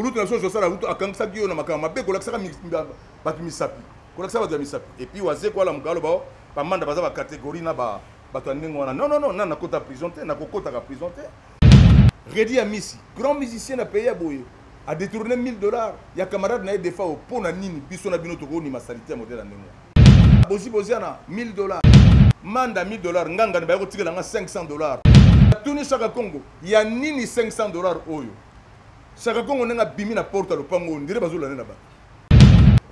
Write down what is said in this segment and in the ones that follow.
kulutu na biso josala rutu akangisaki yo na makambo mabe kolakisaka bato misapi kolakisa bato ya misapi epuis wazeko alamuka aloba oh, bamanda baza bacatégorie na bato ya ndenge wana nonnono na nakota prison te nakokotaka prison te redi ya misi grand musicien na pays ya boye a détourné 1000 dollars ya camarade na ye defao mpo na nini biso na bino tokonima salite ya modele ya ndenge wana bozi boziana 1000 dollars manda 1000 dollars ngangani baye kotikela nga 500 dollars tunisaka congo ya nini 500 dollars oyo Sakakongo ndenge abimi na porte ya lopango oyo ndire bazolanda na bato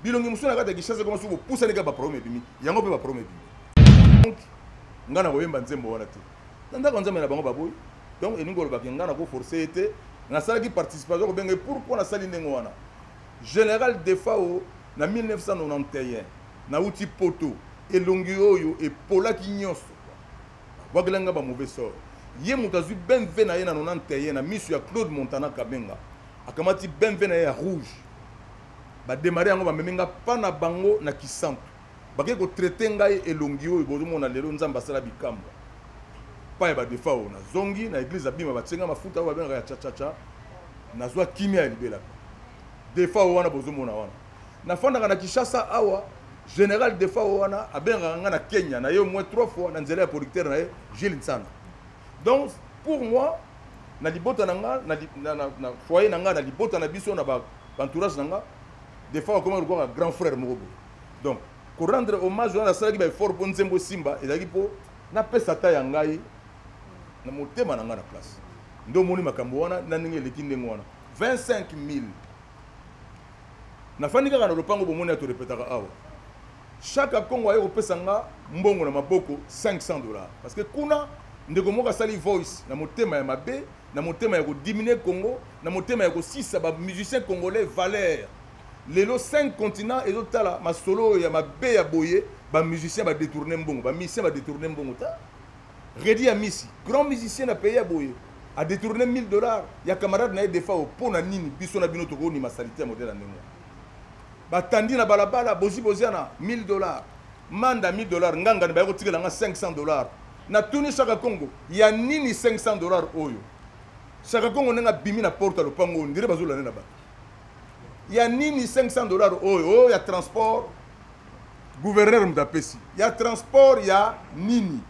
bilongi mosusu na kati ya kishasa ekoma soki bopusani kaka baproblème ebimi yango mpe baproblème ebimi donc ngai nakoyemba nzembo wana te na ndako ya nzambe na bango baboyi donc elingi kolobaki ngai nakoforce ye te nasalaki participation kobenga ye pourkui nasali ndenge wana général defao na 1991 nauti poto elongi oyo epolaki nyonso Babwakela nga ba mauvais sort. Ye moto azwi BMW na ye na 91 na miso ya Claude Montana Kabenga. Akamati BMW na ye ya rouge. Ba démarrer yango bamemi nga pa na bango na Kisantu. Bakei ko traiter ngai elongi oyo bozomona lelo Nzambe asala bikamwa. Pa ya ba Defao nazongi na eglise abima batie nga mafuta oyo babengaka ya cha cha cha. Nazwa kimia ya libela. Defao wana bozomona wana. nafandaka na kinshasa awa général defao wana abengaka ngai na kenya na ye au moins trois fois na nzela ya producteur na ye gile nsana donc pour moi na libota na nga na, na, na, na foyer na nga na libota na biso na baentourage na nga defao akomaki lokola grand frère moko boye donc korendre hommage wana nasalaki baeffort mpo nzembo esimba ezalaki mpo napesa ta ya ngai na motema na ngai na place nde omoni makambo wana na ndenge eleki ndenge wana 25 000 nafandi kaka na lopango bomoni ya torepetaka awa chaque akongo aye kopesa nga mbongo na maboko 500 dollars parce que kuna ndeko moko asali voice na motema ya mabe na motema ya kodiminue congo na motema ya kosisa bamusicien congolais valeur lelo 5 continent ezotala masolo oyo ya mabe ya boye bamusicien badetourne mbongo bamisien badetourne mbongo ta Reddy Amisi, grand musicien na pays ya boye, a détourné 1000 dollars ya camarade na ye Defao mpo na nini biso na bino tokonima salite ya modèle ya ndenge batandi na balabala bozi boziana 1000 dollars manda 1000 dollars ngangani baye kotikela nga 500 dollars natuni shaka congo ya nini 500 dollars oyo shaka congo ndenge abimi na porte ya lopango oyo ndire bazolande na bato ya nini 500 dollars oyo oyo ya transport gouverneur moto apesi ya transport ya nini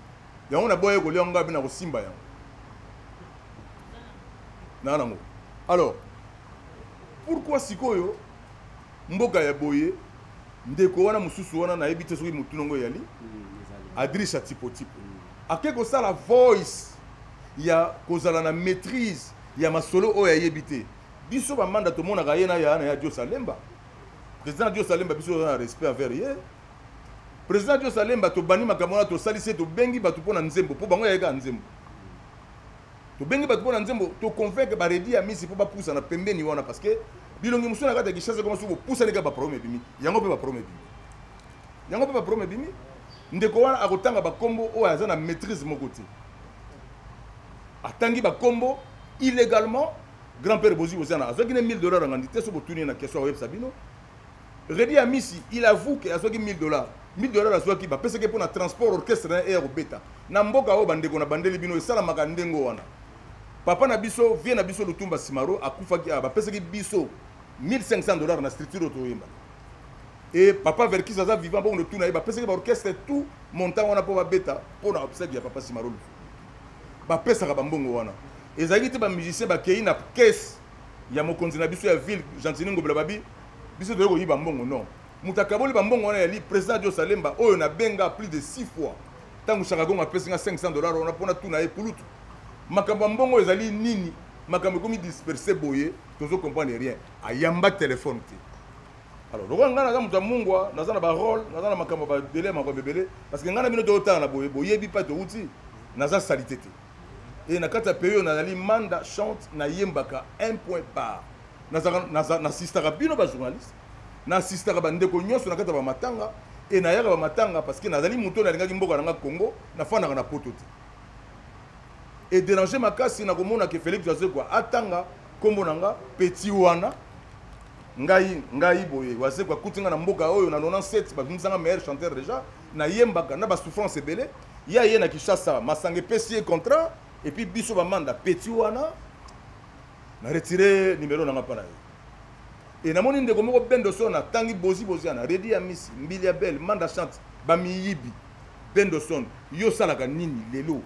yango na boye kolia yango abe na kosimba yango na nango alors pourquoi sikoyo mboka ya boye ndeko wana mosusu wana nayebi te soki motuna yango eyali mm, adrisa tipotipo mm. ake kosala voice ya kozala na maîtrise ya masolo oyo ayebi te biso bamanda tomonaka ye na ya na ya diosalemba président dios alemba biso oza na respect envers ye président dios alemba tobandi makambo wana tosalisi ye tobengi bato mpo na nzembo mpo bango yayekaka nzembo tobengi bato mpo na nzembo toconvaincre baredi ya misi mpo bapusa na pembeni wana parce que bilongi mosusu na kati ya kishasa koma soki bopusani kaka baproblème ebimi yango mpe baproblème ebimi yango mpe baproblème ebimi ndeko wana akotanga bakombo oyo aza na maîtrise moko te atangi bakombo illégalement grand père bozi bozi ana azwaki ne 1000 dollars ya ngandi te so botuni ye na question akoyebisa bino redi amisi il avoue ke azwaki 1000 dollars 1000 dollars azwaki bapesaki mpo na transport orchestre na ye ya kobeta na mboka oyo bandeko na bandeli bino esalamaka ndenge wana papa na biso vie na biso lutumba simaro akufaki awa bapesaki biso 1500 dollars na structure oyo toyemba e papa verkis aza vivant bongo tuna ye bapesaki baorchestre tout montant wana mpo babeta mpo na obsède ya papa simaro lufu bapesaka bambongo wana ezalaki te ba musicien bakei na caisse ya mokonzi na biso ya ville gentini ngobela babi biso toyei koyiba mbongo non moto akaboli bambongo wana yali président jo salemba oyo nabenga plus de six fois ntango shakagongo apesi nga 500 dollar wana mpo natuna ye kulutu makambo ya mbongo ezali nini makambo ekomi disperse boye tozo comprendre rien ayamba telefone te alors lokola ngai naza moto ya mungwa naza na barole naza na makambo ya badele ya makambo ebele parce que ngai na bino toyotala na boye boyebi mpa touti naza salite te e na kati ya pays oyo nazali manda chante nayembaka un point par nasistaka bino bajournaliste nasistaka bandeko nyonso na kati ya bamatanga e nayaka bamatanga parce que nazali moto oyo nalingaki mboka na nga congo nafandaka na poto te ederange makasi nakomona ke felix azekwa atanga nkombo na nga petit wana ngai ngai boye wazekwa akuti nga na mboka oyo na 97 babimisanga meilleur chanteur déjà nayembaka na basouffrance ebele ye aye na kinshasa masanga epesi ye contrat epuis biso bamanda peti wana na retire nimero nanga mpa na yo e namoni ndeko moko bendo son atangi bozi boziana redi ya misi mbili ya bele manda chante bamiyibi bendo son yo osalaka nini lelo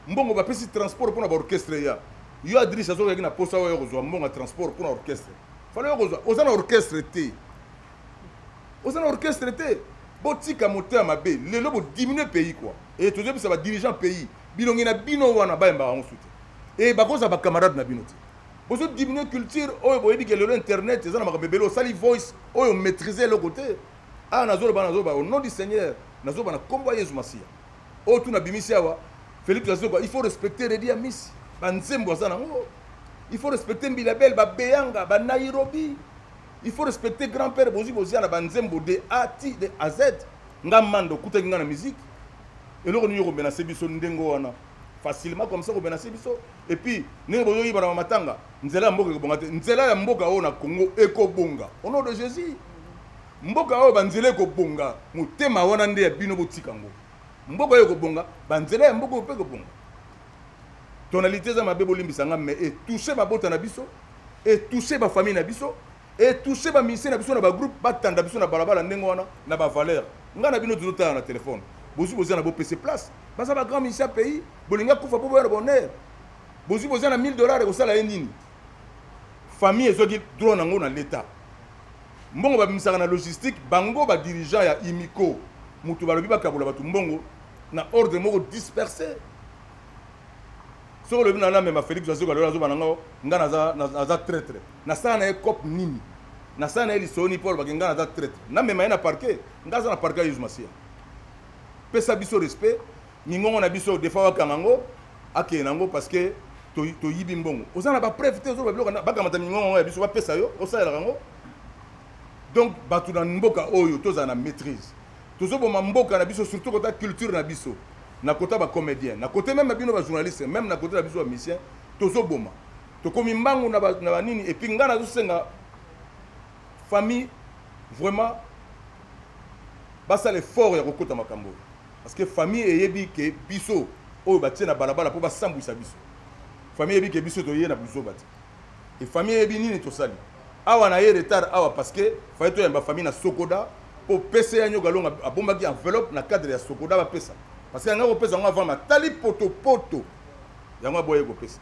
mbongo bapesi transport mpo na baorchestre ya yo adrise azokaki na posa oyo kozwa mbongo ya transport mpo na orchestre fala yo kozwa oza na orchestre te oza na orchestre te botika moto ya mabe lelo bodiminue pays kua e eh, tozoyebisa badirigant pays bilongi na bino wana bayembaka yango su te e eh, bakozala bacamarade na bino te bozodiminue culture oyo boyebi ke lelo internet eza na makambo ebele osali voice oyo maîtrise eloko te awa ah, nazoloba nazoloba au nom du seigneur nazoloba na nkombo ya yezu masiya oyo tu nabimisi awa philippe azoba il faut respecter redi ya misi banzembo aza nango il faut respecter mbilabel babeyanga banairobi il faut respecter grand père bozwi bozia na banzembo de a ti de a z nga manda okutaki nga na musique eloko nini yokomenase biso ndenge wana facilement comme ça komenase biso et puis ndenge bozoyiba na bamatanga nzela ya mboka ekobonga te nzela ya mboka oyo na congo ekobonga au nom de jésus mboka oyo banzela ekobonga motema wana nde ya bino botika ngo mboka oyo ekobonga banzela ya mboka oyo mpe ekobonga tonalité eza mabe bolimbisa nga mais etouche mabota na biso etouche bafamille na biso etouche bamisie na biso na bagroupe batanda biso na balabala ndenge wana na bavaleur ngai na bino tozotala na telefone bozwi boza na bopese place baza bagrand misie ya pays bolingi akufa mpo boya na bonheur bozwi boza na 1000 dollars ekosala ye nini famille ezwaki droit na yango na leta mbongo babimisaka na logistique bango badirigeant ya imiko moto balobi bakabola bato mbongo na ordre moko disperse soki olobi na namema félix azoka lelo azoba na ngo ngai naza traitre nasala na ye cop nini nasala na ye lisoni mpo alobaki ngai naza traitre namema ye na parquet ngai aza na parquet ya yesu masiya pesa biso respect mingongo na biso defa wakanga yango akende na yango parce que toyibi mbongo oza na bapreuve te ozoloba biloko bakamata mingongo yango ya biso bapesa yo osalelaka yango donc bato na mboka oyo tozala na maîtrise tozoboma mboka na biso surtout kota culture na biso na kota ba comédien na kote meme bino ba journaliste meme na kote na biso ba musicien tozoboma tokomi mbangu na banini epuis ngai nazosenga famille vraiment basala effort ya kokota makambo oyo parce que famille eyebi ke biso oyo batie na balabala mpo basambwisa biso famille eyebi ke biso toye na buzoba te et famille eyebi nini tosali awa na ye retard awa parce que faye toyamba famille na sokoda mpo pese ya nyoka longa abombaki enveloppe na cadre ya sokoda bapesa parce que yanga kopesa yango avant matali potopoto yango aboyaki kopesa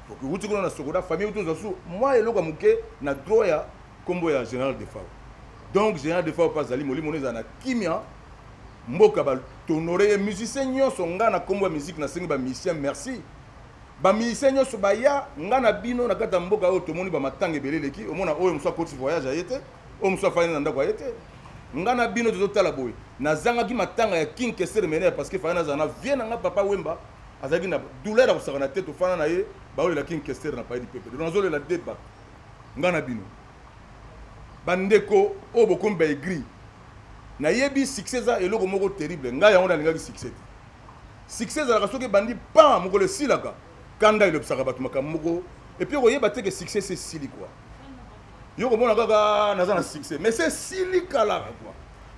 tokiwuti kuna na sokoda famille tozwa su mwa eloko ya moke na droit ya nkombo ya général defao donc général defao mpe azali molimo no ezala na kimia mboka batonore ye musicien nyonso ngai na nkombo ya miziki nasengi bamisien merci bamusicien nyonso baya nga na bino na kati ya mboka oyo tomoni bamatanga ebele eleki omona oyo mosu akoti voyage aye te oyo mosu afandi na ndako aye te nga na bino tozotala boye nazangaki matanga ya king kesere mene parce que fana nazala na vie na nga papa wemba azalaki na douleur ya kosakana te tofana na ye baolela king kesere na paye lipepe donc nazolela deba nga na bino bandeko oyo bokomi baegri nayebi succès eza eloko moko terrible ngai yango nalingaki succès te succès ezalaka soki ebandi pan mokolo esilaka kanda elobisaka bato makambo moko epuis okoyeba te ke succès se esili kua yo komona kaka ah, naza na succès mais se esili kalaka kua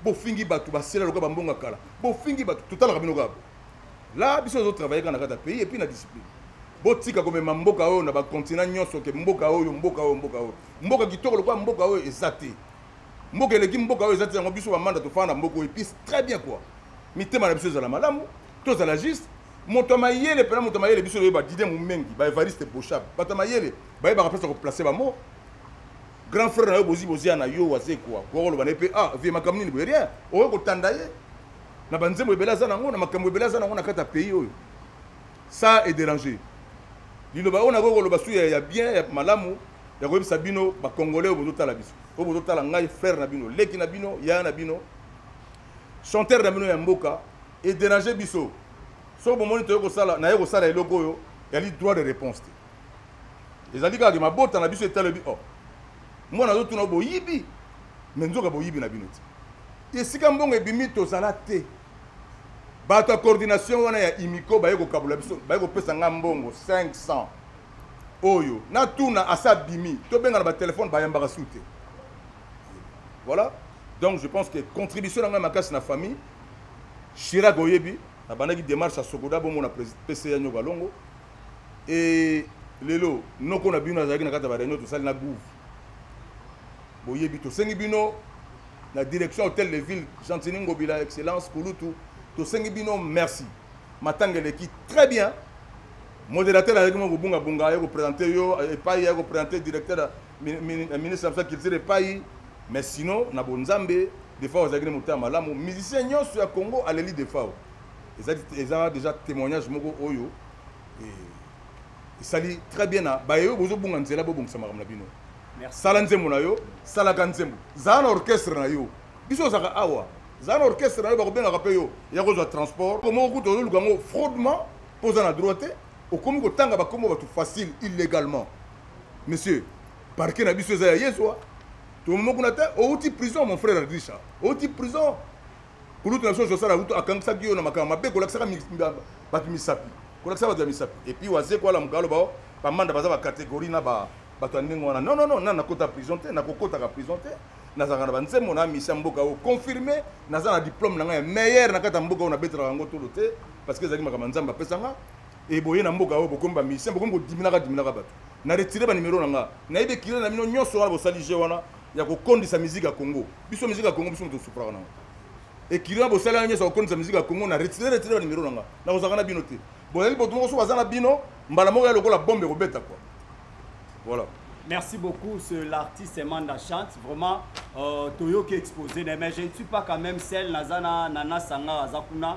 bofingi bato basela lokola bambonga kala bofingi bato totalaka bino kaka la biso ozo travaille kaka na kati ya pays epuis na discipline botika komema mboka oyo na bakontina nyonso ke mboka oyo mboka oyo mboka oyo mboka kitoko lokola mboka oyo eza te mboka eleki mboka oyo eza te yango biso bamanda tofanda na mboka oyo episi très bien quoi mitema na biso ezala malamu tozala juste moto ya mayele mpena moto ya mayele biso toyeba didie momengi baevariste boshab bato ya mayele bayebaka mpenza koplace bamo grand frère na yo bozi bozia na yo waze kwa kokoloba na ye mpe ah vie makambo nini boye rien okoki kotanda ye na banzembo ebele aza nango na makambo ebele aza nango na kati ya pays oyo ça est dérange liloba oyo nakoki koloba su ya bien ya malamu ya koyebisa bino bacongolais oyo bozotala biso oyo bozotala ngai frère na bino leki na bino yaya na bino chanteur na bino ya mboka ederange biso soki bomoni toye kosala naye kosala eloko oyo yali droit de réponse te ezali kaka mabota na biso etalebi o oh, mwana azotuna boyibi me nzoka boyibi na bino te esika mbongo ebimi tozala te bato ya coordination wana ya imiko baye kokabola biso baye kopesa ngai mbongo 500 oyo na tuna asa bimi to benga na ba téléphone ba yambaka sute voilà donc je pense que contribution na ngai makasi na famille Chirac oyebi na bandaki démarche à Sokoda bongo na PCA nyoka longo et lelo noko na bino azalaki na kati ya ba réunion tosali na gouv boyebi tosengi bino na direction hôtel de ville gentini ngobila excellence kulutu tosengi bino merci matanga eleki très bien Moderateur ayaki mwa kobunga bunga aye ko presenter yo eh, epai aye ko presenter directeur ya eh, ministre ya mosala culture epai mais sinon na bonzambe defao azalaki na motema malamu musicien nyonso ya congo aleli defao eza déjà témoignage moko oyo eh, esali très bien na baye oyo bozobunga nzela bobongisa makambo na bino sala nzembo na yo salaka nzembo zala na orchestre na yo biso ozalaka awa zala na orchestre na yo bakobengaka mpe yo ya kozwa transport moko kutu ozoluka yango fraudement mpo oza na droit te okomi kotanga bakombo bato facile illegalement monsieur parke na biso eza ya yezwa tomomo kuna te outi prison mon frère adrisha outi prison kulutu na biso josala utu akangisaki yo na makambo mabe kolakisaka bato misapi kolakisa bato ya misapi epuis waze koala mokalo bao bamanda baza bacatégorie na bato ya ndenge wana non non non na nakota prison te nakokotaka prison te nazalaka na banzembo na misi ya mboka oyo confirme naza na diplome na ngai ya meilleur na kati ya mboka oyo nabetelaka yango tolo te parce que ezalaki makambo ya nzambe apesa nga e boye na mboka oyo bokomi bamisien bokomi kodiminaka diminaka bato na retire banimero na nga nayebi ekile na bino nyonso wana bosali je wana ya kokondisa miziki ya congo biso miziki ya congo biso moto tosupraka nango ekili wana bosali wana nyonso ya kokondisa miziki ya congo na retire retire banimero na nga nakozalaka na bino te bozali bato moko so baza na bino mbala moko ya lokola bombe ekobeta kwa voilà Merci beaucoup, ce l'artiste Manda Chante. Vraiment, euh, Toyoki exposé, mais je ne suis pas quand même celle Nazana Nana Sangara Zakuna.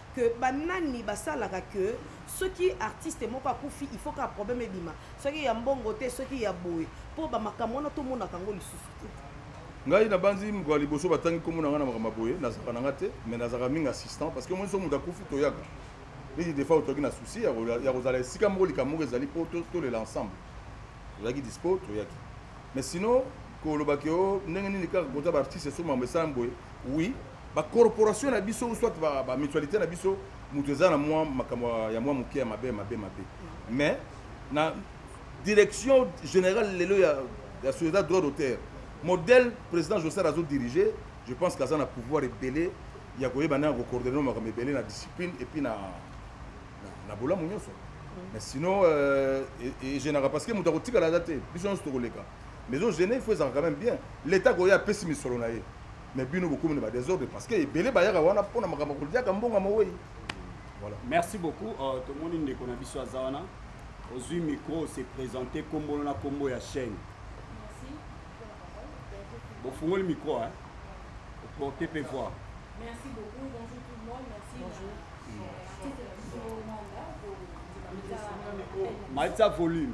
que banani basalaka que soki artiste moko akufi il faut ka problème ebima soki ya mbongo te soki ya boye mpo bamakambo wana tomonaka yango lisusu te ngai nabanzi mokolo ya liboso batangi nkombo na ngai na makambo ya boye nazalaka na ngai te mais nazalaka mingi assistant parce que moi so moto akufi toyaka neti defa otoki na souci ya kozala esika moko likambo moko ezali mpo tolela ensemble tozalaki dispo toyaki mais sinon koloba ke o oh, ndenge nini kaka kota baartiste so mambo esala boye oui ba corporation na biso soit ba, ba mutualité na biso moto eza na mwa makambo ya mwa moke ya mabe mabe mabe mais na direction générale lelo ya, ya société droit d'auteur modèle président josar azo dirige je pense qu'aza na pouvoir ebele ya koyeba ndenge ya kocoordonne makambo ebele na discipline epuis na, na, na bolamu nyonso mais sinon euh, egenaka parce que moto akotikala aza te biso nyonso tokoleka mais ozene il faut ezalaka quand même bien l'état koya apesi misolo na ye mais bino bokomi na ba desordre parce que ebele bayaka wana mpo na makambo koliaka mbongo ya mowei voilà merci beaucoup uh, tomoni ndeko na biso aza wana ozwi micro ose présente nkombo na nkombo ya chaîne bofungoli micro hein? porte pe voir merci beaucoup bonjour tout le monde merci bonjour euh, maitisa volume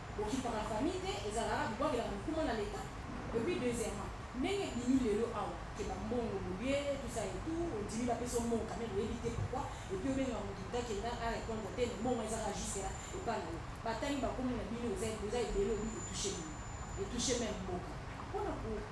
Okipaka famille te ezalaka bobuakelaka mikuma na l'etat et puis deuxièmement ndenge ebimi lelo awa que ba mbongo bolie tout ça et tout ondimi bapesa yo mbongo quand meme oyebi te pourquoi et puis obengaka mutu mutu akenda a repondre te mais mbongo eza kaka jusque là epa na yo batangi ba kombo na bino eza ebele oyebi e toucher nini? E toucher meme mboka pona ko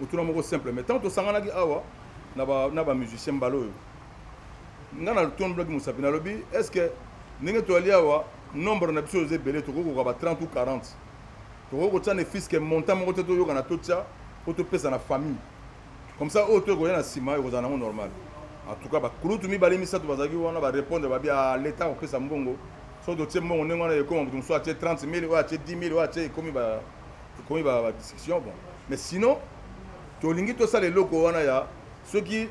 motuna moko simple mais ntango tosanganaki awa na bamusicien mbala oyo ngai natonblaki mosapi nalobi est ce que ndenge toyali awa nombre na biso oza ebele tokoki kokoka ba 30 ou 40 tokoki kotya ne fiske montant moko te toyokana totya mpo topesa na famille comme ça oyo to ekoya na nsima ekozala nango normal en tout cas bakulutu mibale misato bazalaki wana barépondre babi a ah, leta akopesa mbongo soki totie mbongo ndenge wana ekoma moto mosusu atie 30 000 oyo atie 10 000 oyo atie ekomi ekomi ba ba discussion bon mais sinon tolingi tosala eloko wana ya soki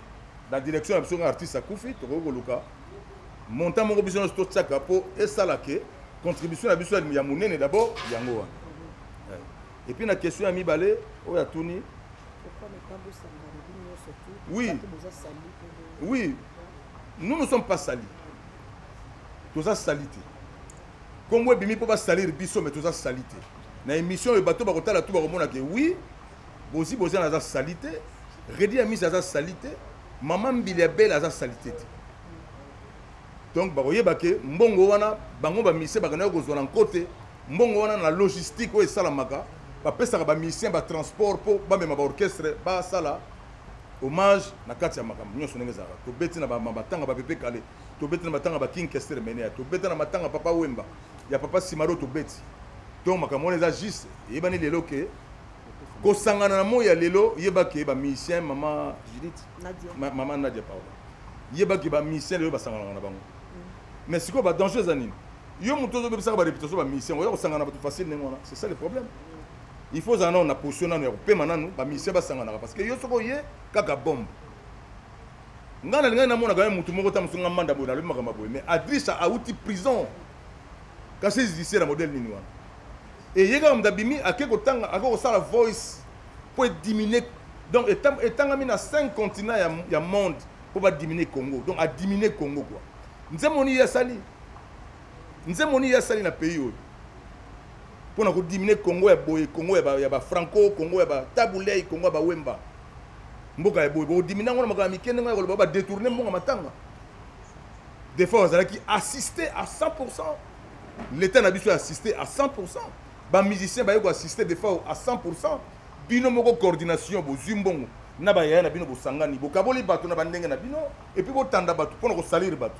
na direction ya biso nga artiste akufi tokoki koluka montant moko biso nyonso totyaka mpo esala ke contribution na biso ya monene d'abord yango wana eh. epuis na question ya mibale oyo atuni oui oui nous ne sommes pas sali toza sali te Kombo ebimi po ba salir biso mais toza salite. Na émission oyo bato bakotala tout bakomona que oui, Bozi Bozi aza salite, Reddy Amisi aza salite, Maman Mbili Abel aza salite te. Donc bakoyeba que mbongo wana bango ba mise bakana kozwa na nkote mbongo wana na logistique oyo esalamaka bapesaka bamusicien batransport mpo bamema baorchestre basala hommage na kati ya makambo nyonso ndenge ezalaka tobeti na matanga bapepe kale tobeti na matanga ba king kester menea tobeta na matanga papa wemba ya papa simaro tobeti donc makambo wana eza juste eyebani lelo ke kosangana na moi ya lelo yeba ke bamusicien mama judith mama nadia pardon yeba ke bamusicien lelo basanganaka na bango mm. mais sikoyo badanger eza nini yo moto ozobebisaka bareputation bamusicien oya kosangana bato facile ndenge wana c'est ça le problème il faut ozala nano na position nano ya kopema nano bamusicien basanganaka parce que yo soki oye kaka bombe nga na lingani namona kaka mutu moko ta mosu nga manda boye nalobi makambo boye mais adrisa awuti prison kasi ezidise na modele nini wana eye kaka moto abimi ake kotanga ake kosala voice mpo ediminue donc etangami na 5 continent ya, ya monde mpo badiminue congo donc adiminue congo kua nzembo nini ye asali nzembo nini ye asali na pays oyo mpo na kodiminue congo ya boye congo ya bafranco congo ya batabulei congo ya bawemba mboka ya boye bokondimi nango na makambo ya mike ndenge ya koloba badetourne mbongo matanga des fois bazalaki assiste à 100 l'état na biso assiste à 100 bamusicien baye koassiste des fois à 100 bino moko coordination bozwi mbongo na bayaya na bino bosangani bokaboli bato na bandenge na bino epuis botanda bato mpo na kosalire bato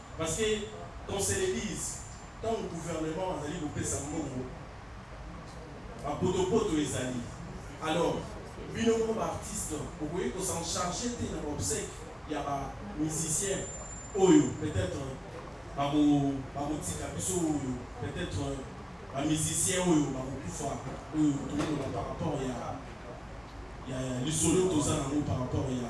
Parce que qu'on se le dise, tango gouvernement azali kopesa mbongo, ba potopoto ezali. Alors, bino moko ba artistes, bokoki ko s'en charger te na ba obsèques ya ba musiciens oyo peut-être bako bakotika biso oyo peut-être ba musiciens oyo bakokufa oyo tokoloba par rapport ya ya lisolo toza nango par rapport ya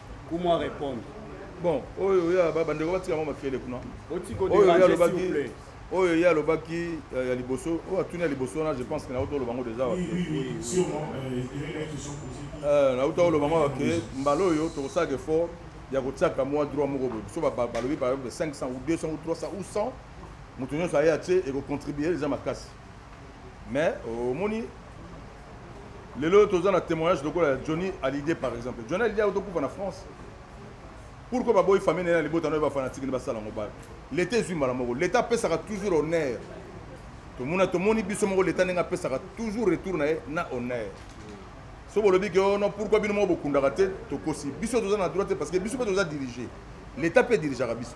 Kumwa répondre. Bon, oyo oyo ya baba ndeko batika mama kele kuna. Otiko de oyo ya lobaki. Oyo ya lobaki euh, ya liboso, oyo atuni ya liboso na je pense que na auto lobango déjà wa. Oui, oui, oui, sûrement euh, il y a une question posée. Euh, na auto lobango wa ke mbalo oyo to sa que fort ya ko tsaka moi droit moko bo. So ba balobi par exemple 500 ou 200 ou 300 ou 100 moto nyonso aye atie et ko contribuer les amakasi. mais omoni euh, lelo oyo toza na témoignage lokola ya johnny alide par exemple johnny alide auti okufa na france pourkoi baboyi famille naye na libota nayo bafanatike nde basala yango bale leta ezwi mbala moko leta apesaka toujours honneur tomona tomoni biso moko leta ndenge apesaka toujours retour na ye na honneur so bolobi ke ono oh pourkoi bino moko bokundaka te tokosi biso toza na droit te parce que biso mpe toza dirige leta mpe dirigeaka biso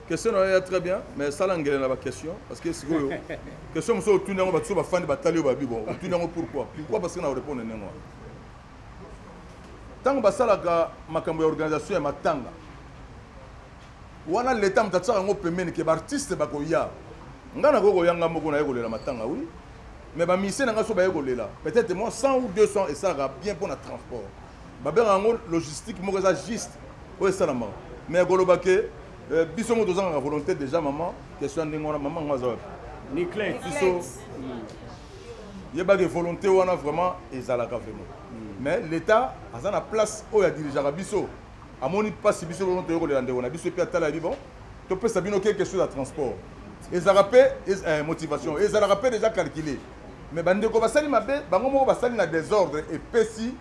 question nayo ya très bien mais sala ngele na baquestion parce que sikoyo question mosusu otuni yango bato so bafandi batali yo babi bon otuni yango pourquoi pourquoi parce que na orépondre ndenge wana ntango basalaka makambo ya organisation ya matanga wana leta moto atisaka yango pembeni ke baartiste bakoya ngai nakoki koyanga moko naye kolela matanga wi mais bamise na ngai so baye kolela peut-être moi 100 ou 200 esalaka bien mpo na transport babengaka yango logistique moko eza juste oyo esalamaka mais koloba ke euh, biso moko tozangaka volonté déjà mama question ya ndenge wana mama yango aza wapi niclet biso hmm. yebaki volonté wana vraiment ezalaka vraiment hmm. mais l'état aza na place oyo adirigeaka biso amoni mpasi biso lono toyokolela ndeko na biso mpe atala yebi bon topesa bino quelque chose ya transport ezalaka mpe eh, motivation ezalaka mpe déjà calculé mais bandeko basali mabe bango moko basali na désordre epesi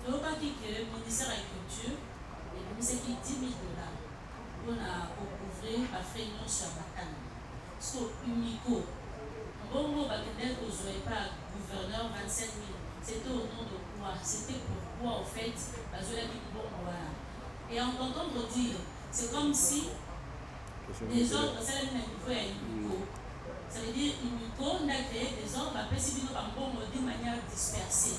Toyokaki que ministère ya culture ebimisaki 10.000 dollars mpo na ko couvrir ba frais nionso ya matanga. Sikoyo Umico, mbongo oyo bakendaki kozua epa ya gouverneur 25.000, c'etait au nom de quoi? C'etait pourquoi au fait bazuelaki mbongo wana? Et en t'entendre dire, c'est comme si desordre esalemi na niveau ya Umico. Ça veut dire Umico nde a cree desordre, apesi bino ba mbongo d'une manière dispersee.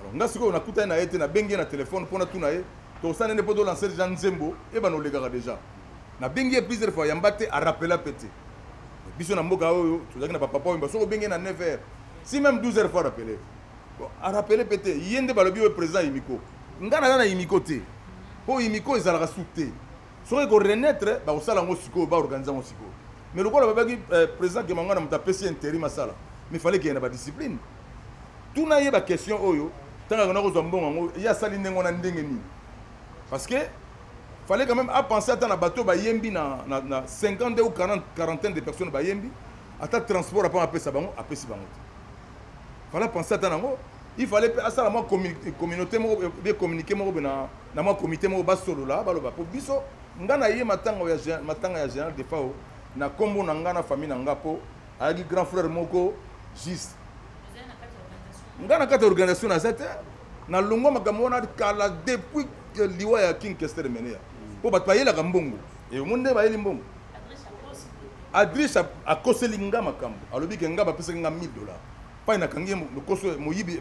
alors nga sikoyo nakutani na ye te nabengi ye na telefone mpo natuna ye tosana nde mpo tolanse deja nzembo eyebana olekaka deja nabengi ye plusieurs fois yamba te arapela mpe te biso na mboka oyo tozalaki na bapapa oyo soki obengi ye na 9 heures si même 12 heures fois arapele arapele mpe te ye nde balobi oyo président yimiko ngai naza na yimiko te mpo yimiko ezalaka su te soki eko renaître bakosala yango sikoyo baorganize yango sikoyo mais lokola babaki euh, président kemangwana moto apesi ye interim asala mais fale keye na badiscipline tuna ye baquestion oyo ntango akona kozwa mbongo yango ye asali ndenge wana ndenge nini parce que fallait quand même apenser ata na bato bayembi na, na, na 52 ou 40 quarantaine de personnes bayembi ata transport apanga apesa bango apesi bango te fallait apenser ata nango il fallait mpe asala mwa communauté moko be communiqué moko be na mwa comité moko basolola baloba mpo biso nga na ye matanga ya matanga ya général defao na nkombo na nga na famille na nga mpo ayaki grand frère moko juste nga na kati ya organisation naza te na longwa makambo wana kala depuis liwa ya king kester menea mpo bato bayelaka mbongo omoni nde bayeli mbongo adriche akoseli nga makambo alobi ke nga bapesaki nga 1000 dollars pai nakangi ye lokoso moyibi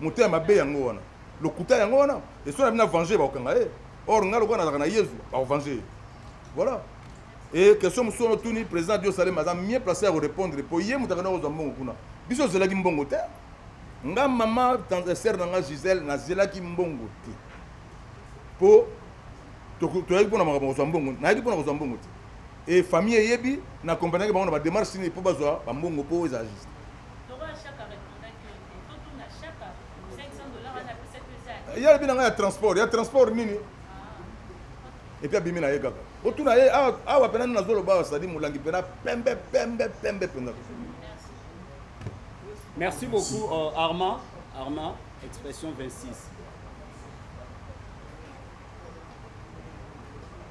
moto ya mabe yango wana lokuta yango wana esoki na bino avenge bakokanga ye or ngai lokola nazalaka na yezu bakovange ye voilà e question mosusu wana otuni président dio salem aza mieux place ya korépondre mpo ye moto akenda kozwa mbongo kuna biso ozelaki mbongo te nga mama eh, sere na nga gisele nazelaki mbongo te mpo toyaki mpo na makambo kozwa mbongo nayaki mpo na kozwa mbongo te et famille eyebi na comprenaki bango na ba démarche nini po bazwa ba mbongo po eza juste ya lobi na ngai ya transport ya transport nini epuis abimi na ye kaka otuna ye awa mpena nini nazoloba awa sadi molangi mpena pembe pembe pembe mpenza merci beaucoup uh, armand armand expression 26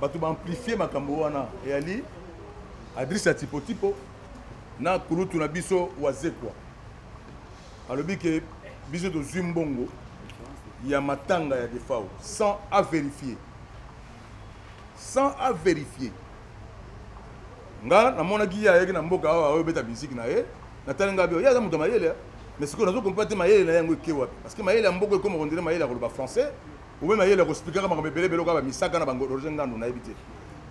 bato ba amplifie makambo wana eyali adrisi ya tipotipo na kulutu na biso wazekwa alobi ke biso tozwi mbongo ya matanga ya defao sans avérifier sans avérifier nga namonaki ye ayaki na mboka awa oyobeta miziki na ye natali ngai bio ye aza moto ya mayele mais sikoyo nazokompa te mayele na ye yango eke wapi parce que mayele ya mboka ekoma kondele mayele ya koloba français obe mayele ya kosplikaka makambo ebele ebele okoka bamisaka na bango roger ngandu nayebi te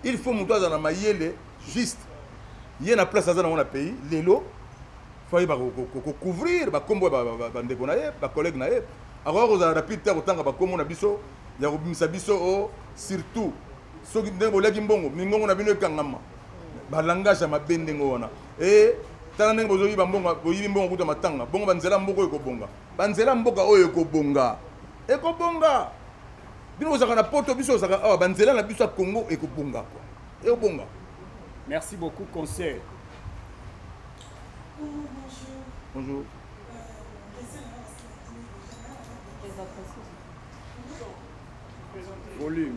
il faut moto aza na mayele juste ye na place aza nango na pays lelo faye bakocouvrir bakombo ya bandeko na ye bacollègue na ye akoka kozala rapide te ya kotanga bakombo na biso ya kobimisa biso o oh, surtout soki ndenge boliaki mbongo mingongo na bino ekangama balangage ya mabe ndenge wana e eh, tala ndenge bozoyiba mbongo boyibi mbongo kuta matanga bongo banzela mboka oyo ekobonga banzela mboka oyo ekobonga ekobonga bino ozalaka na poto biso ozalaka awa banzela na biso ya congo ekobonga kwa ekobonga merci beaucoup conseil bonjour volume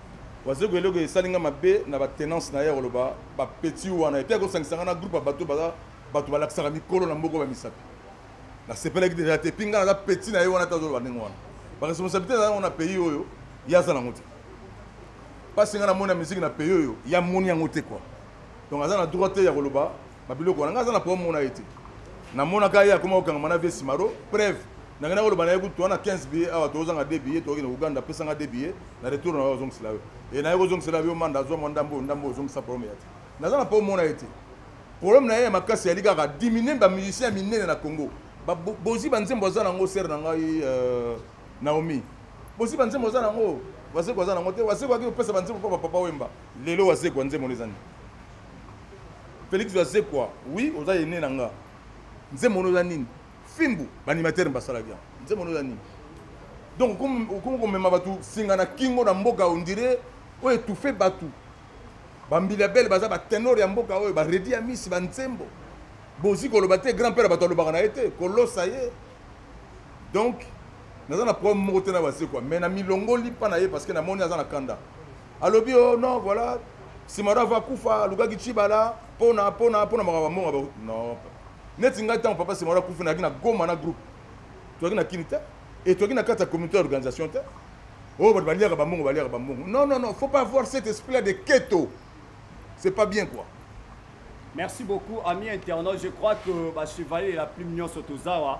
wazego eloko esali nga mabe na batenance na ye koloba bapeti wana epe akosangisa nga na groupe ya bato baza bato balakisaka mikolo na mboko bamisapi nasepelaki deja te epi nga naza peti na ye wana te azoloba ndenge wana baresponsabilité naza yango na pays oyo ye aza nango te mpasi nga namoni ya miziki na pays oyo ye amoni yango te kua donc aza na droit te ya koloba babiloko wana nga aza na problème mona ye te namonaka ye akoma kokangama na vie simaro preuve nake nako loba na ye kutu wana 15 billet awa tozanga 2 billet tokende Ouganda pesa nga 2 billet na retour na yo ozongisela yo e na ye kozongisela yo manda azwa mwa ndambo oyo ndambo ozongisa problème ya te naza na po omona ye te problème na ye ya makasi yali kaka diminue ba musicien ya minene na Congo bozi ba nzembo aza nango sere na ngai euh, Naomi bozi ba nzembo aza nango wazeko aza nango te wazeko aki kopesa ba nzembo mpo ba papa wemba lelo wazeko ya nzembo eza nini Felix wazekwa oui oza ene na nga nzembo eza nini fimbu ba animateur basalaki yango nzembo no ya nini donc okomi komema bato singa na kingo na mboka ondire oyo etufe bato bambila bele baza batenor ya mboka oyo baredi ya misi banzembo bozi koloba te grand père bato alobaka na ye te kolosa ye donc naza na problème moko te na basekwa mais na milongoli mpa na ye parce que namoni aza na kanda alobi o oh, non voilà simaro ava kufa alukaki cibala mpona mpona mpona makambo mbongo ba non neti ngai ntango papa simaro akufi nayaki na goma na groupe toyaki na kini te e toyaki na kati ya communauté ya organisation te oyo oh, bato baliaka bambongo baliaka bambongo non non non faut pas avoir cet esprit là de keto c'est pas bien quoi merci beaucoup ami internaute je crois que bachevalier ya plume nyonso tozawa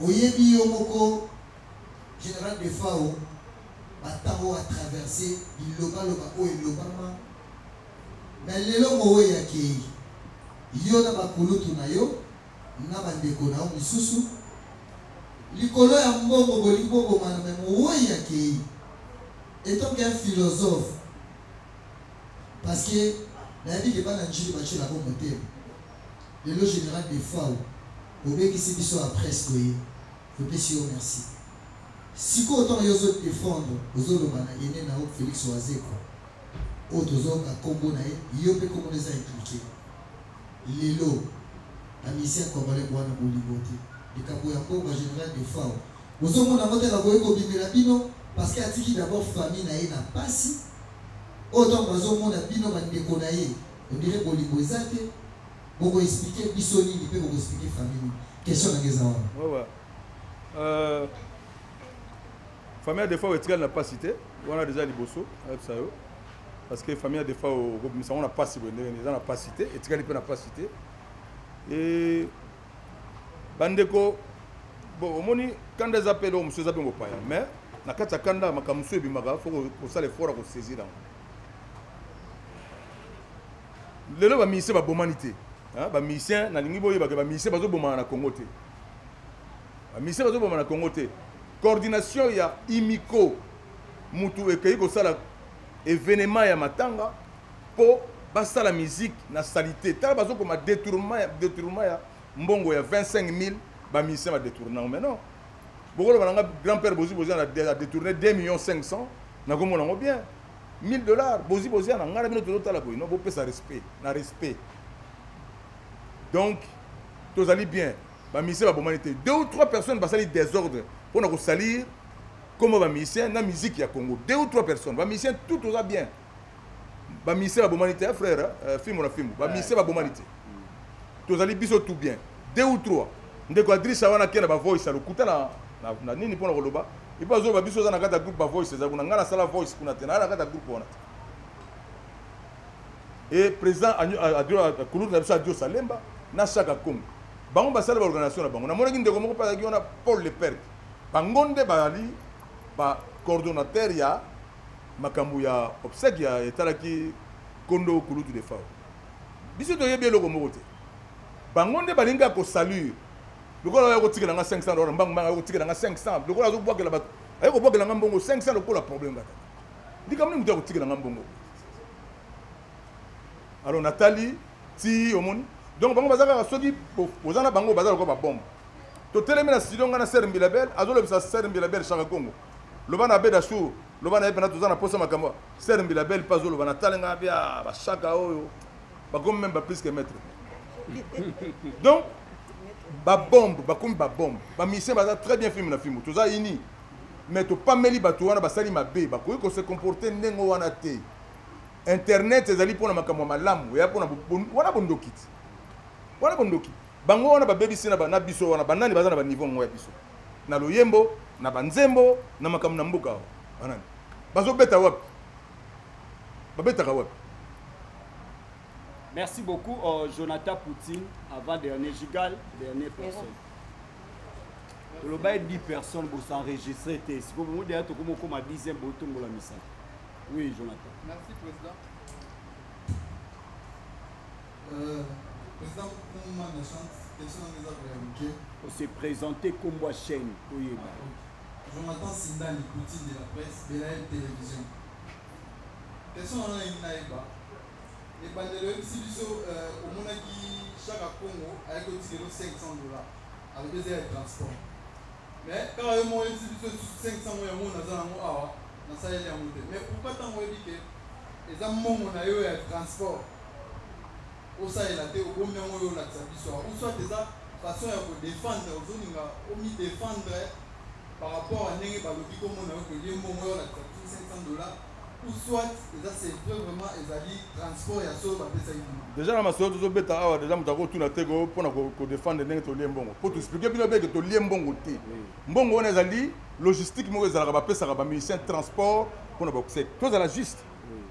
Oyebi yo moko General Defao ba temps oyo a traverse biloba loba oyo elobama mais lelo Moweyi akeyi yo na ba kulutu na yo na ba ndeko na yo misusu likolo ya mbongo bolingi bobomana mais Moweyi akeyi etant qu'un philosophe parce que nayebi ke bana Ndjili batyelaka yo motema lelo General Defao Obebisi biso a presse koye topesi yo merci sikoyo tango yo ozo defendre ozo loba na haine na yo Felix wazekwa oyo tozo yoka kombo na ye yo pe kombo na yo eza implique lelo ba musiciens congolais buana bolingo te likambo ya mbongo general defao bozo mona yango te kakoki kobimela bino parce que atiki d'abord famille na ye na pasi oyo tango bazo mona bino ba ndeko na ye on dirait bolingo eza te boko explique biso nini pe boko explique famille nini question nanga eza wana ouais, ouais. Euh, famille ya defao etikali na mpasi te wana deja liboso ayebisa yo parce que famille ya defao okobimisa yango na mpasi boye ndenge eza na mpasi te etikali mpe na mpasi te e bandeko bon omoni kanda eza mpe eloko mosusu eza mpe mopaya mais na kati ya kanda makambo mosusu ebimaka fo kosala effort ya kosaisir yango lelo ba musicien ba bomani te hein ba musicien na lingi boyeba ke ba musicien bazo bomana na Congo te ba musicien bazo bomana na Congo te coordination ya imiko mutu ekeyi ko sala événement ya matanga po ba sala musique na salite tala bazo koma détournement ya détournement ya mbongo ya 25000 ba musicien ba détournement mais non bokoloba na nga grand père bozi bozi na détourner 2 millions 500 nakomona ngo bien 1000 dollars bozi bozi ya na ngai na bino tozotala boye no bopesa respect na respect donc tozali bien bamusicien babomani te deux ou trois personnes basali désordre mpo na kosalir koma bamusicien na musique ya congo deux ou trois personnes bamusicien tout toza bien bamusicien babomani te frère euh, fimbo na fimbo bamusicien babomani te tozali biso tout bien deux ou trois ndeko adrisa wana ake na bavoice ya lokuta na, na, na nini mpo na koloba epo azoloba biso oza na kati ya groupe bavoice eza kuna ngai nasala voice kuna te naa na kati ya groupe wana te e président kulute na biso adio salemba na shaka congo bango basali baorganisation na bango namonaki ndeko moko mpe azalaki wana paul leperte bango nde bazali bacoordonnateur ya makambo ya obsèque ya etalaki kondo kulutu de fao biso toyebi eloko moko te bango nde balingi ya kosalire lokola oyo akotikela nga 500 dollars mbangu mbangu akotikela nga 500 lokola azobwakela bato aye kobwakela nga mbongo 500 lokola problème kaka likambo nini moto akotikela nga mbongo alors natali ti omoni donc bango baza kaka soki oza na bango baza lokola babombe totelemi na studio ngai na ser mbilabel azolobisa ser mbilabel chaka congo loba na beda sur loba na ye mpena toza na mposa makambo ser mbilabel mpe azoloba natali ngai bia bashaka oyo bakomi meme ba plus que maître donc babombe bakomi babombe bamisien baza très bien filme na filme toza ini mais topameli bato wana basali mabe bakoki kose comporte ndenge wana te internet ezali mpona makambo ya malamu eya mpona wana bondoki ti wana bondoki bango wana babebisi na biso wana banani baza na baniveau yango ya biso na loyembo na banzembo na makambo na mboka wana banani bazobeta wapi babetaka wapi merci beaucoup oh, jonathan poutine avant dernier gigal dernier personne tolobaki 10 personne bosenregistre te sikoyo bongo deya tokoma okoma 10 botombola misala oui jonathan merci président euh, président kuma na chance question nanga eza koya moke ose présente kombo ya chaîne toyeba ah, jonathan sindani poutine de la presse belael télévision Question wana nalingi nayeba ebandelo oyebisi biso euh, omonaki shaka congo ayaki otikelo 500 dollars alobi eza ya transport mais kaka yo moko oyebisi biso lisusu 500 oyo yango naza nango awa nasaleli yango te mais pourquoi ntango oyebi ke eza mbongo na yo ya transport Osalela te obomi yango yo olakisa biso awa ou soit eza façon ya ko défendre ozolinga omi défendre par rapport à ndenge balobi komona yo kolie mbongo yo olakisa biso 500 dollars ou soit eza c'est vrai vraiment ezali transport ya solo bapesaki bino déjà na masolo tozobeta awa déjà moto akotuna te ko mpona kodefendre ndenge tolie mbongo mpo toexplike bino beke tolie mbongo te mbongo wana ezali logistique moko ezalaka bapesaka bamusicien transport mpona bakuseki tozala juste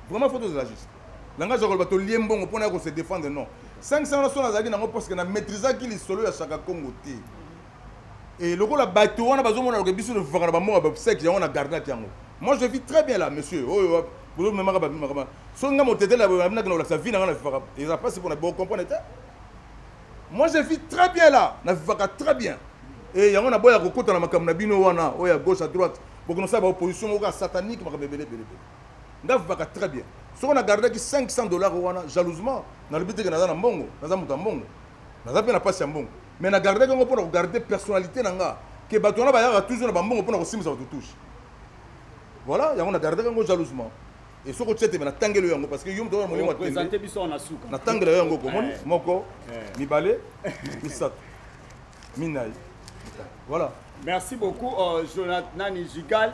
vraiment fo tozala juste na ngai azwa koloba tolie mbongo mpo na ya kose défendre non 500 wana sona azalaki nango parce que na maîtrisaki lisolo ya shaka congo te e lokola bato wana bazomona loke biso tofaka na bambongo ya bapsek yango na garnate yango moi je vis très bien là monsieur oyo oh, bozomemaka bamemaka soki ngai motetele abinaki na kolakisa vi na ngai na vivaka eza mpasi mpona bocomprendre te moi je vis très bien là na vivaka très bien e yango naboya kokota na makambo na bino wana oyo ya gauche à droite bokonosala baopposition moko ya satanique makambo ebele ebele ebele nga vivaka très bien soko na gardaki 500 dollars wana jalousement nalobi teke naza na mbongo naza moto ya mbongo naza mpe na mpasi ya mbongo mais na gardaki yango mpo na kogarde personnalité na nga ke bato wana bayaka toujours na bambongo mpo na kosimbisa bato touche voilà yango na gardaki yango jalousement e soki otya teme natangeli yo yango parce que yo moto molimo atembe natangela yo yango komoni eh. moko eh. mibale misato minai voilà merci beaucoup euh, jonathan nani jigal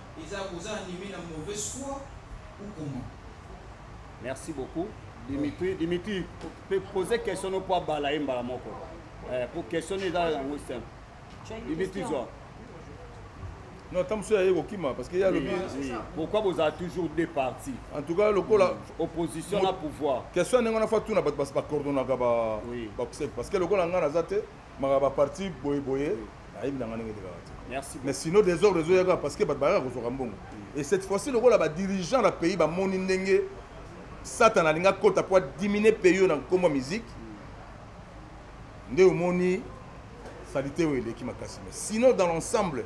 Eza boza anime na mauvaise foi ou comment? Merci beaucoup. Dimitri, Dimitri, poser question no po abala ye mbala moko. Eh, po question eza yango simple. Dimitri zwa. Non, tant que aye kokima parce que ya lobi. Pourquoi vous avez toujours deux partis En tout cas, lokola mm. opposition na pouvoir. Question ndenge na fa tuna bato ba coordonnaka ba ba parce que lokola ngana za te maka ba parti boye boye ayebi nanga ndenge elekaka te mais sinon desordre ezoyaka parce que bato bayaka kozwaka mbongo et cette fois-ci lokola badirigeant na pays bamoni ndenge satana alingi akota mpo adimine pays oyo na nkombo ya miziki nde omoni salite oyo eleki makasi mais sinon dans l'ensemble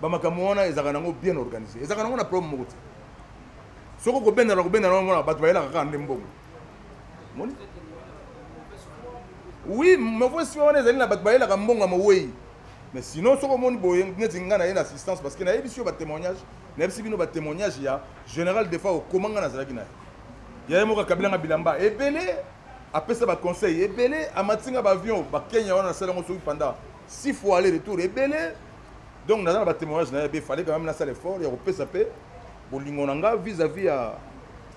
bamakambo wana ezalaka nango bien organisé ezalaka nango na problème moko te soki okobendana kobendana omona bato bayelaka kaka nde mbongo moni oui mauvaise foi wana ezali na bato bayelaka mbongo ya mowei mais sinon soki omoni boye neti ngai naye na assistance parce que nayebisi yo batémoignage nayebisi bino batémoignage ya général defa okoma ngai nazalaki na ye yaye moko akabila nga bilamba ebele apesa baconseil ebele amati nga baavion bakenya wana nasala yango soki panda six fois aller retour ebele donc naza na batémoignage na ye be fallait quand même nasala effort ya kopesa mpe bolingo na nga vis à vis ya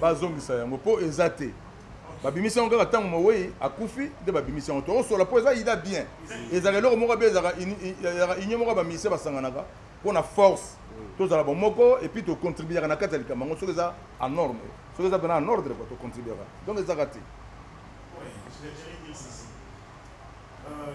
bazongisa yango mpo eza te babimisi yango kaka ntango mowei akufi nde babimisi yango tokosola mpo eza ida bien ezalaka eloko moko be ezalaka union moko ya bamisie basanganaka mpo na force tozala bomoko epuis tocontribuaka na kati ya likambo yango soki eza en norme soki eza mpena en ordre kua tocontribuaka donc ezaka te euh,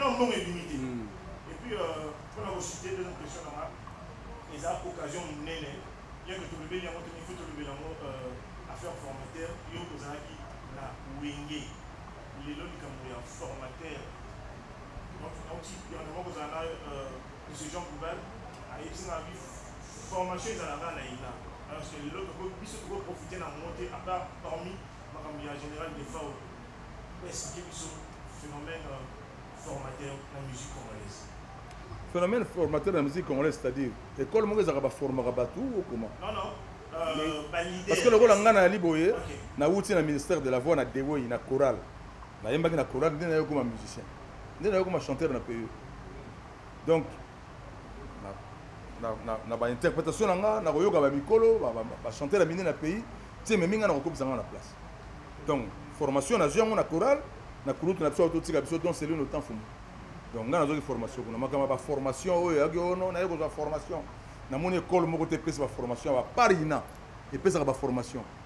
wana mbongo ebimi te hmm. mpona euh, kosite eza question nanga eza occasion monene yeke tolobeli yango teni fo tolobeli yango euh, affaire formateur yo ozalaki na wenge lelo likambo ya formateur donc auti yango kozala na euh, monsieur jean boubal ayebisi nga formation ezala kaka na ina parce que lelo toko biso toko profiter na ngo te à part parmi makambo ya général defao esike biso phénomène euh, formateur na musique congolaise phénomène formateur na musique congolaise c'est-à-dire école moko ezalaka baformaka bato ou comment non non euh, parce que lokola ngai nayali boye nawuti na ministère de la voix na dewei na chorale nayembaki na chorale nde naye okoma musicien nde naye okoma chanteur na pays donc na ba interprétation na nga na koyoka ba mikolo ba chanter la mine na pays tie memi nga na kokobisa nga na place donc formation na yango na chorale na kulutu na biso totika biso donc celui no temps fumu donc nga nazoki formation kuna makama ba formation oyo yaki ono na yeko za formation na moni école moko te pesa ba formation ya ba parina epesaka ba formation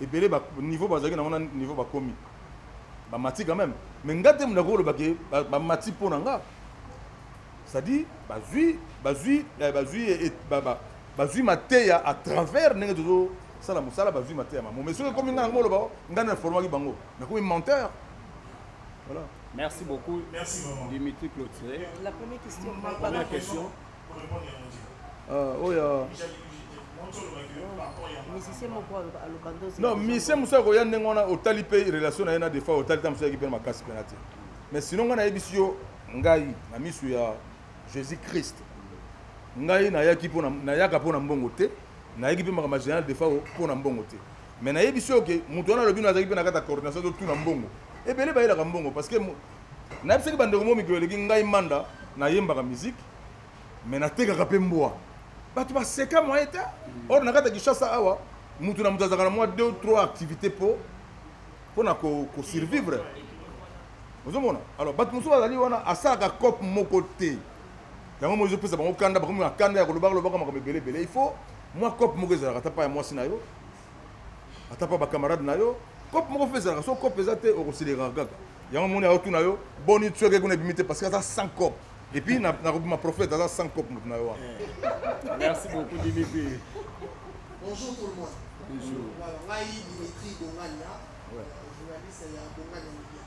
ebele ba niveau bazalaki nango na niveau bakomi bamati quand même mais nga te moto akoloba ke bamati mpo na nga c'est-à-dire bazwi bazwi eh, bazwi eh, bazwi mateya à travers ndenge tozosala mosala bazwi mateya mamo mais soki ekomi nga nango oloba oh, ngai na informaki bango nakomi menteur voilà Merci beaucoup. Merci vraiment. Dimitri Clotilde. La première question. La première question. Euh, oyo oh, non misie mosusu akoya ndenge wana otali mpe relation na ye na defa otali ntango mosusu ayaki mpe na makasi mpena te mais sino ngai nayebisi yo ngai na miso ya jésus christ ngai nayaki mpo nayaka mpo na mbongo te nayaki mpe makambo ya général defa mpo na mbongo te mais nayebisi yo ke moto wana alobi no azalaki mpe na kati ya coordination totuna mbongo ebele bayelaka mbongo parce que nayebisaki bandeko mo mikolo eleki ngai manda nayembaka miziki me natekaka mpe mbwa bato baseka moye te or na kati ya kinshasa awa moto na moto azalaka na mwa 2 3 activité mpo mpo na kosurvivre ko ozomona alors bato mosusu bazali wana asalaka cope moko te yango moi ezopesa bango kanda bakomi na kanda ya kolobaka lobaka makambo ebele ebele il faut mwa cope moko ezalaka ata pa ya mwasi na yo ata mpa bacamarade na yo cope moko mpe ezalaka so cope eza te okosileka kaka yango moni ayotuna yo boni tsweke kuna ebimi te parce que aza sans cope et puis nakobima prophète aza sans cope moto na yo wana eh. merci beaucoup dimitri bonjour tout le monde bonjour ngai dimitri bongania euh, journaliste ya bongania media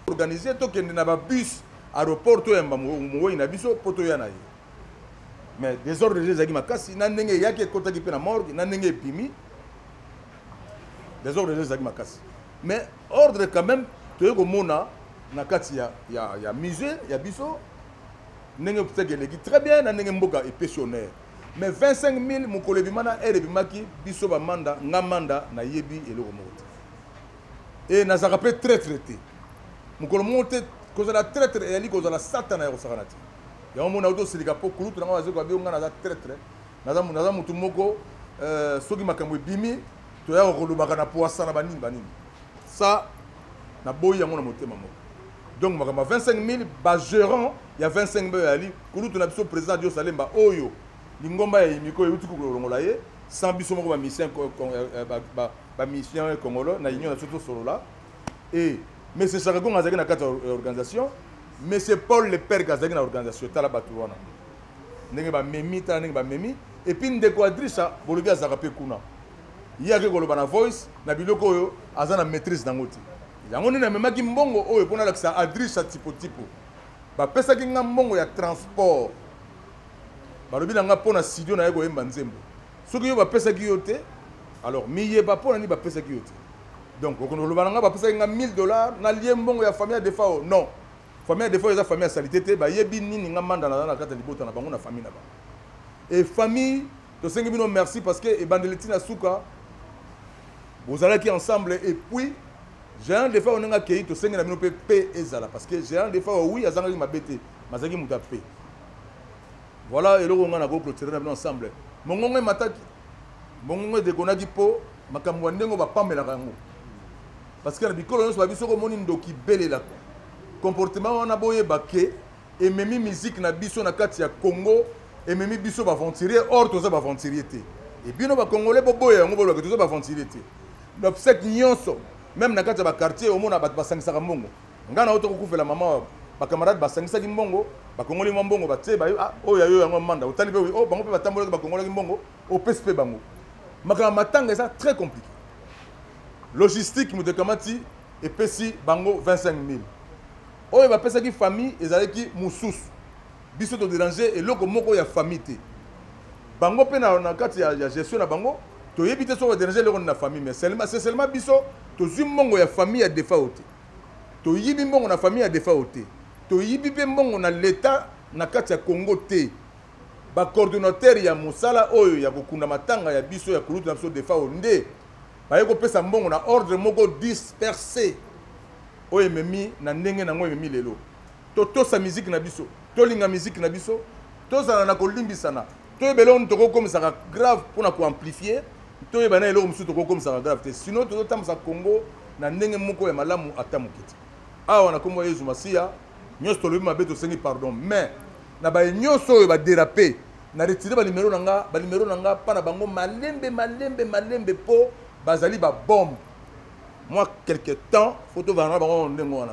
organise tokende na babus aéroport toyamba mowei na biso mpo toya na ye mais desordre eza ezalaki makasi na ndenge eyaki ekotaki mpe na morgue na ndenge ebimi desordre eza ezalaki makasi mais ordre quand même toyei komona na kati ya, ya, ya musée ya biso ndenge moteki eleki très bien na ndenge mboka epesi honneur mais 25 000 mokolo ebima na aire ebimaki biso bamanda nga manda nayebi eloko moko te e nazalaka mpe traitre te mokolo moko te kozala traitre eyali kozala satana ya kosakana te yango mona auti osilika mpo kulutu na ngai nazokoka bio ngai naza traitre naza motu moko euh, soki makambo ebimi toyaka kolobaka na poasa na banini banini sa naboyi yango na motema moko donc makambo ya 25 000 bagérant ya 25 000 yali kulutu na biso président dios alemba oyo lingomba ya yimiko euti kolongola ye sans biso moko bamisien bamisien euh, euh, congolo na union na biso tosolola e mais sesaka gonga azalaki na kati ya organisation monsieur paul le perge azalaki na organisation tala bato wana ndenge bamemi tala ndenge bamemi epuis ndeko adrisa bolobi azalaka mpe kuna ye ake koloba na voice na biloko oyo aza na maîtrise nango te yango nini amemaki mbongo oyo mpo nalakisa adrisa tipotipo bapesaki nga mbongo ya transport balobi na nga mpo na studio na ye koyemba nzembo soki yo bapesaki yo te alors miyeba mpo na nini bapesaki yo te donc okono loba na nga ba pesa nga 1000 dollars na lié mbongo ya famille de fao non famille de fao eza famille ya salite te ba yebi nini nga manda na na kata libota na bango na famille na ba et famille to sengi bino merci parce que ebandeli tina suka bozalaki ensemble et puis géant de fao nga kei to sengi na bino pe pe ezala parce que géant de fao oui azanga ki mabete mazaki muta pe voilà eloko nga na ko clôturer na bino ensemble mongongo mataki Bongongo edegonaki mpo makambo ya ndenge bapamelaka yango parce que na bikolo nyonso babi soki omoni ndoki belela comportement wana boyeba ke ememi musique na biso na kati ya congo ememi biso baventurier or toza baventurier te ebino bacongolais boboya yango bolobake toza baventurier te baobsèque nyonso meme na kati ya baquartier omona bato basangisaka mbongo ngai na yo tokokufela mama oyo bacamarade basangisaki mbongo bakongoli mwa mbongo batie bayo ah, oyo ya yo yango manda otali mpe oyo oh, bango mpe batambolaki bakongolaki mbongo opesi mpe bango makambo ya matanga eza très compliqué logistique moto ekamati epesi bango 25 000 oyo bapesaki famille ezalaki mosusu biso toderange eloko moko ya famille te bango mpe na kati ya gestion na bango toyebi te soki baderange eloko nini na famille mais c'est seulement biso tozwi mbongo ya famille ya defao te Toyibi mbongo na famille ya defao te. Toyibi pe mbongo na l'etat na kati ya Congo te. Ba coordonnateurs ya mosala oyo ya kokunda matanga ya biso ya kulutu na biso defao nde baye kopesa mbongo na ordre moko disperse oyo ememi na ndenge nango ememi lelo. Totosa miziki na biso, tolinga miziki na biso, tozala na kolimbisana. toyeba eloko nini tokokomisaka grave mpo na koamplifie toyeba na eloko mosusu tokokomisaka grave te sino tozotambwisa congo na ndenge moko ya malamu ata moke te awa na nkombo ya yezu masiya nyonso tolobi mabe tosengi pardon mais na baye nyonso oyo baderape na retire banimero na nga banimero na nga mpa na bango malembe malembe malembe mpo bazali babombe mwa quelque temps fo tovanda na bango ndenge wana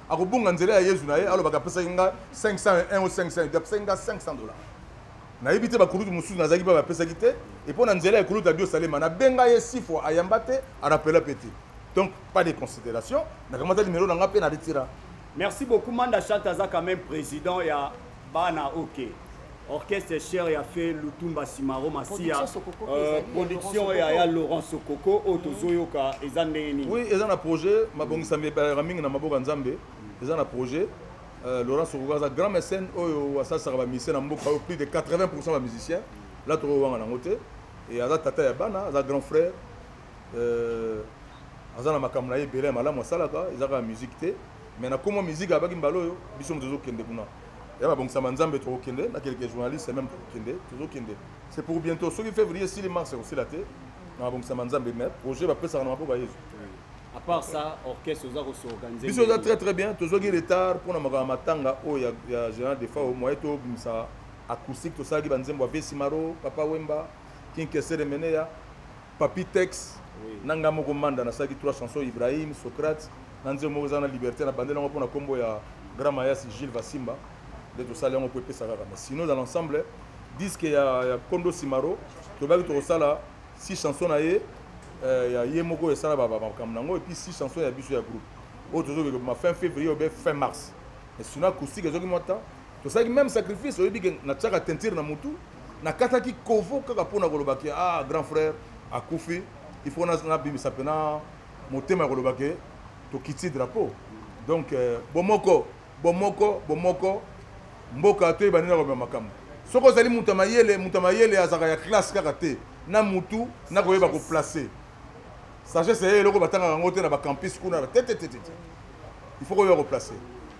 akobunga nzela ya yezu na ye alobaka apesaki nga 501 o 500 apesaki nga 500 dollar nayebi te bakulutu mosusu nazalaki mpe bapesaki te epo na nzela ya ekulutu ya biosalema nabenga ye si fois ayamba te arapela mpe te donc pas de considération nakamata limelo na nga mpe na retira merci beaucoup manda chante aza quand même président ya bana ok orchestre cher ya fe lutumba simaro masiya euh, production ya ya laurent sokoko oyo mhm. tozoyoka eza ndenge nini oui eza na projet mabongisami ebalaka mingi na maboko ya nzambe eza na projet euh, laurent sokoko aza grand mécène oyo asalisaka bamisie na mboka oyo plus de 80 pourcent bamusicien la tokowanga nango te e aza tata ya bana aza grand frère euh, aza na makambo na ye ebele ya malamu asalaka eza kaka miziki te mais na komo miziki abaki mbala oyo biso moto tozokende kuna ya babongisama nzambe tokokende na keleke journaliste meme tokokende tozokende c'est pour bientôt soki février esili mars ekosila te na babongisama nzambe mais projet bapesaka na maboko ya yesu à part ça orchestre oza kosorganiser biso eza très très bien tozwaki retard mpo na makambo ya matanga oyo ya général defao moye tobimisa acoustique tosalaki banzembo ya vesimaro papa wemba kinkesere meneya Papi Tex na nga moko manda na saki trois chansons Ibrahim Socrate na nzembo moko eza na liberté na bandela yango pona kombo ya Grand Mayas Gilles Vasimba nde tosali yango po epesa kaka mais sinon dans l'ensemble disque ya, ya Kondo Simaro tobaki tokosala six chansons na ye euh, ya ye moko esala makambo nango epuis six chansons ya biso ya groupe oyo tozokeke ma fin février obe fin mars mais sinon acoustique ezoki mwa temps tosalaki même sacrifice oyebi ke natiaka teinture na mutu nakataki kovo kaka mpo na koloba ke ah grand frère akufi il faut nabimisa mpena motema ya koloba ke tokiti drapeau donc euh, bomoko bomoko bomoko mboka toyeba nini nakomema makambo soki ozali moto ya mayele moto ya mayele azalaka ya classe kaka te na motu nakoyeba koplace sagesse ya eloko batangaka yango te na bacampus kuna tetetete il faut koyeba koplace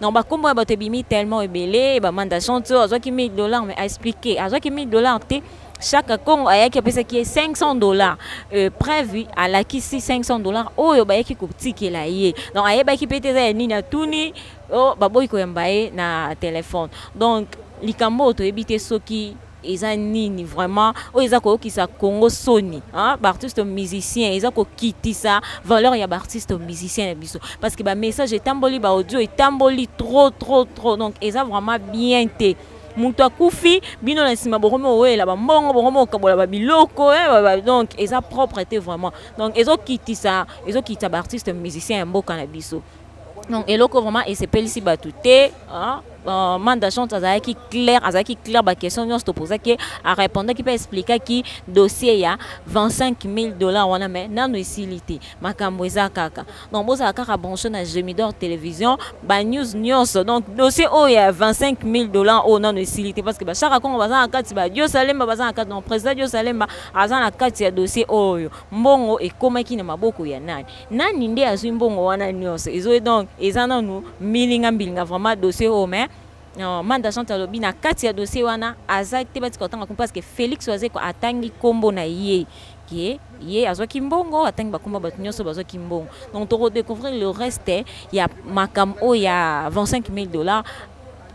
donc bakombo ya bato ebimi tellement ebele bamanda chanti oyo azwaki 1000 dollars mais aexplike azwaki 1000 dollars te chaque congo ayaki apesaki ye 500 dollars euh, preuve alakisi 500 dollars oyo bayaki kotikela ye donc ayebaki mpe te eza ya nini atuni oh, baboyi koyamba ye na telefone donc likambo oyo toyebi te soki eza nini vraiment oyo eza koyokisa congo soni hein? baartiste musicien eza kokitisa valeur ya baartiste musicien na biso parce que bamessage etamboli baaudio etamboli trop trop trop donc eza vraiment bien te moto akufi bino na nsima bokomi owela bambongo bokomi okabola babiloko eh, donc eza propre te vraiment donc ezokitisa ezokitisa baartiste musicien ya mboka na biso donc eloko vraiment esepelisi bato te hein? euh, manda chante azalaki claire azalaki claire baquestion nyonso topozaki arépondaki mpe explikaki dossier ya 25 000 dollars wana mai nano esili te makambo eza kaka donc bozala kaka branche na gemidor télévision banews nyonso donc dossier oyo ya 25 000 dollars oyo nano esili te parce que bashaka kongo baza na kati badiosalemba baza na kati donc président diosalemba aza na kati ya dossier oyo mbongo ekomaki na maboko ya nani nani nde azwi mbongo wana nyonso ezoye donc eza nanu milinga mbilinga vraiment dossier oyo mais euh, manda jean talobi na kati ya dossier wana aza te batika kotanga kombo parce que félix wazeko atangi nkombo na ye ke ye azwaki mbongo atangi bakombo bato nyonso bazwaki mbongo donc tokodecouvrir le reste ya makambo oyo ya 25 000 dollars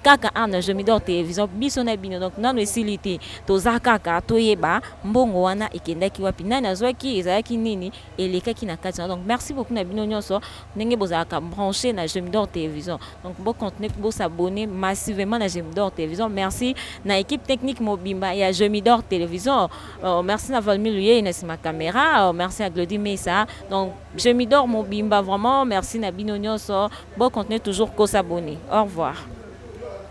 kaka awa na jomidor télévision biso na bino donc nano esili te toza kaka toyeba mbongo wana ekendaki wapi nani azwaki ezalaki nini elekaki na kati donc merci beaucoup na bino nyonso ndenge bozalaka branché na J'aime d'or télévision donc bo continuer bo s'abonner massivement na J'aime d'or télévision merci na équipe technique mobimba ya J'aime d'or télévision euh, merci na Valmy Luye na sima caméra euh, merci à Glody Mesa donc J'aime d'or mobimba vraiment merci na bino nyonso bo continuer toujours ko s'abonner au revoir